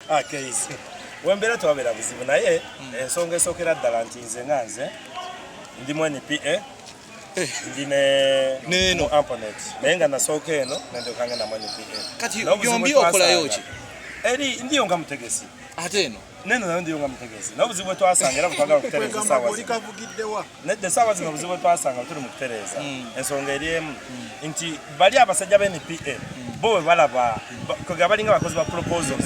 Ah, wembeera tewabeera buzibu naye hmm. ensonga esookera ddala nti nze nga nze ndi mu npa eh. ndi neno amponet naye nga nasooka eno nendekanga namu npa eh. kati yombi okolayo ki eri ndiyo nga mutegesi ate eno neno nayo ndiyo nga mutegesi naye obuzibu bwetwasanga era butwagala okutereza esaawa nedda esaawa zino obuzibu bwetwasanga tuli mu kutereeza hmm. ensonga eri emu hmm. nti bali abasajja ba npa hmm. bo webalaba kwega balinga abakozi ba proposals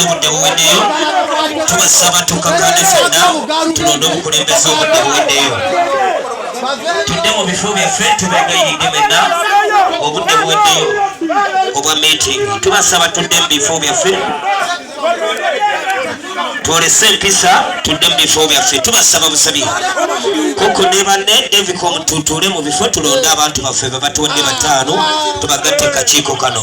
obudde buweddeyo tubasaba tukakane fenna tulonde obukulembeze obudde buweddeyo tudde mu bifo byaffe tubegayiridde menna obudde buweddeyo obwa meeting tubasaba tudde mu bifo byaffe twolese empisa tudde mu bifo byaffe tubasaba busabi kuko ne banne devika omututuule mu bifo tulonde abantu baffe bebatuwadde bataano tubagatte kakiiko kano